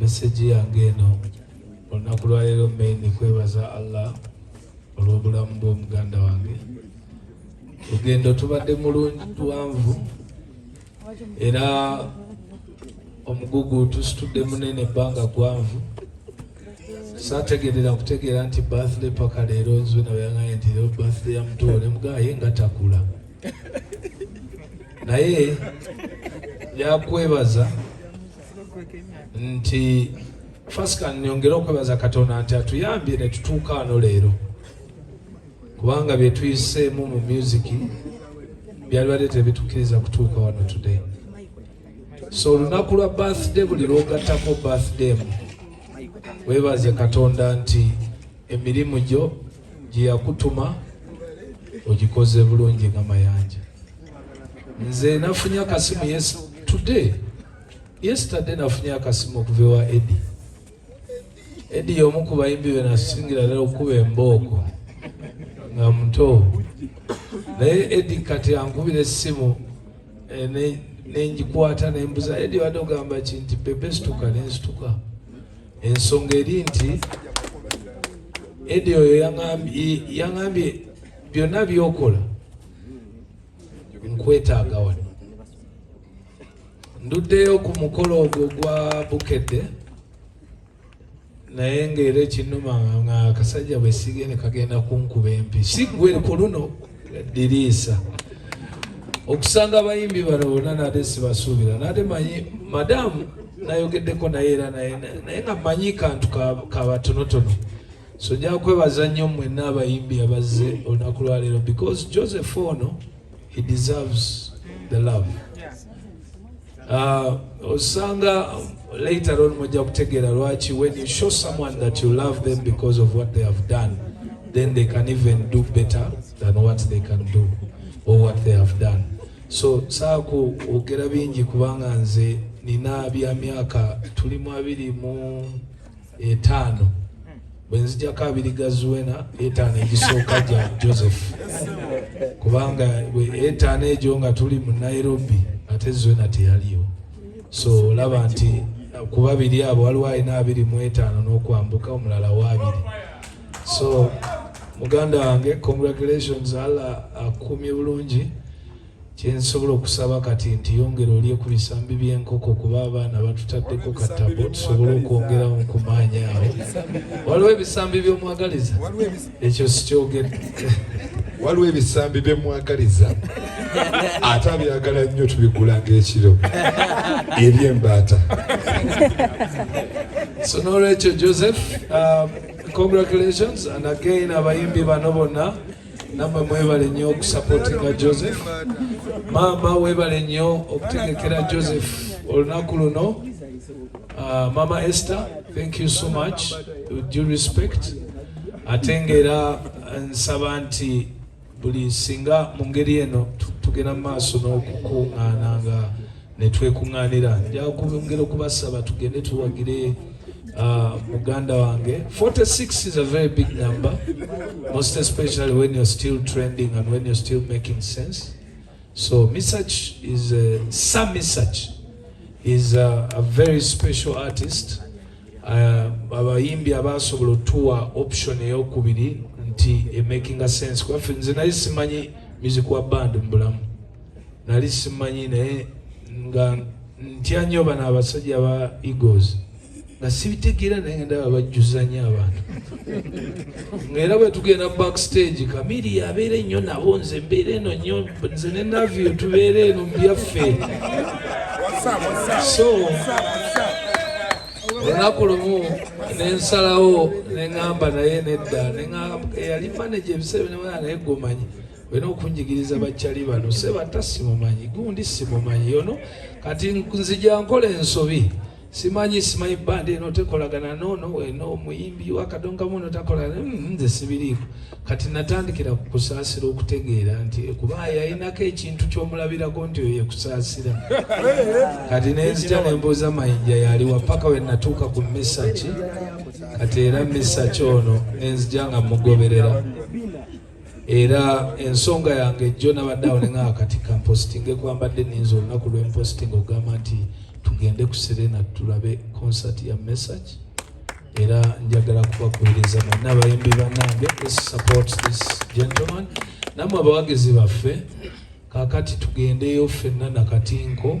Message yange eno olunaku lwaleero main kwebaza Allah olw'obulamu bw'omuganda wange. Lugendo tubadde mulungi tuwanvu era omugugu tusitudde munene ebbanga gwanvu sategerera kutegeera nti birthday paka leero nzwe nabayaŋaye nti leero birthday ya mutoole mugaye nga takula naye yakwebaza nti fasika nyongere okwebaza katonda nti atuyambye netutuuka ano leero kubanga byetuyiseemu mu musiki byalibadde tebitukiriza kutuuka wano today so olunaku lwa birthday buli lwogattako birthday mu webaze katonda nti emirimu gyo gyeyakutuma ogikoze bulungi nga mayanja nze nafunye akasimu yes today Yesterday nafunye akasimu okuva ewa Edi. Edi y'omu ku bayimbi be nasingira ddala okukuba embooko nga muto, naye Edi kati ankubira essimu eh, nenjikwata nembuza Edi wadde ogamba ki nti bebe situka nensituka. Ensonga eri nti Edi oyo yangambye byonna byokola nkwetaaga wano nduddeyo ku mukolo ogwo gwa bukedde naye ngaera ekinuma nga akasajja bwesige ne kagenda kunkuba empi si gwe ku luno diriisa okusanga abayimbi bano bona nate sibasuubira nate manyi madamu nayogeddeko naye era naye naye nga manyi kantu kabatonotono so njakwebaza nnyo mwenna abayimbi abazze olunaku lwaleero because joseph ono no. he deserves the love uh, osanga later on mujja kutegeera lwaki when you show someone that you love them because of what they have done then they can even do better than what they can do or what they have done so saaku ogera bingi kubanga nze nina bya myaka tulimu abiri mu etaano bwe nzijako abiri ga zuwena etaano egisooka gya joseph kubanga etaano egyo nga tuli mu nairobi ate zuwena teyaliyo so olaba nti ku babiri abo waliwo alina abiri mu etaano n'okwambuka omulala waabiri so muganda wange congratulations allah akukumye bulungi Kyensobola okusaba kati nti yongera olye ku bisambi by'enkoko kuba abaana batutaddeko ka tabo tusobole okwongerawo nkumaanya awo. Waliwo ebisambi by'omwagaliza? Ekyo sikyogedde. Waliwo ebisambi bye mwagaliza ate abyagala nnyo tubigula ng'ekiro eby'embaata. So n'olwekyo Joseph, um, congratulations and again abayimbi bano bonna Namwe mwebale nnyo okusapotinga Joseph. Maama webale nnyo okutegekera Joseph olunaku luno. Uh, Mama Esther, thank you so much. With due respect. Ate ng'era uh, nsaba nti buli singa mu ngeri eno tugenda mu maaso n'okukuŋŋaana nga ne twekuŋŋaanira nja okwongera okubasaba tugende tuwagire uh, muganda wange 46 is a very big number most especially when you're still trending and when you're still making sense so misach is uh, sam misach is a, uh, a very special artist uh, abayimbi abasobola otuwa option eyokubiri nti emakinga sense kubafe nze naye simanyi music wa band mu bulamu nali simanyi naye nga ntya nnyo bano abasajja ba egos nga sibitegeera naye ndaba bajjuzanyo abantu ngaera bwe tugenda backstage kamiri yabeera ennyo nabo nze mbeera eno nnyo nze ne navio tubeera eno mubyaffe so olunaku lumu nensalawo neŋamba naye nedda eyali manaje ebiseera binamanaa naye gomanyi olina okunjigiriza bakyali bano sebata simumanyi gundi simumanyi yono kati nzija nkola ensobi simanyi simanyi bandi eno tekolagana nono eno omuyimbi wakadongamu no takolagana mm, nze sibiriiko kati natandikira kukusaasira okutegeera nti kuba yalinako ekintu kyomulabirako nti oyo yekusaasira kati nenzija nembuuza mayinja yaliwa paka wenatuuka ku misaki kati era misaki ono nenzija nga mugoberera era ensonga yange jjo nabadde awo neŋaa kati kampositinge kwambadde ninza olunaku lwempositinga okugamba nti tugende ku serena tulabe concert ya message era njagala kubakubiriza mwenna abayimbi banange support this gentleman namwe abawagizi baffe kakati tugendeyo fenna nakatinko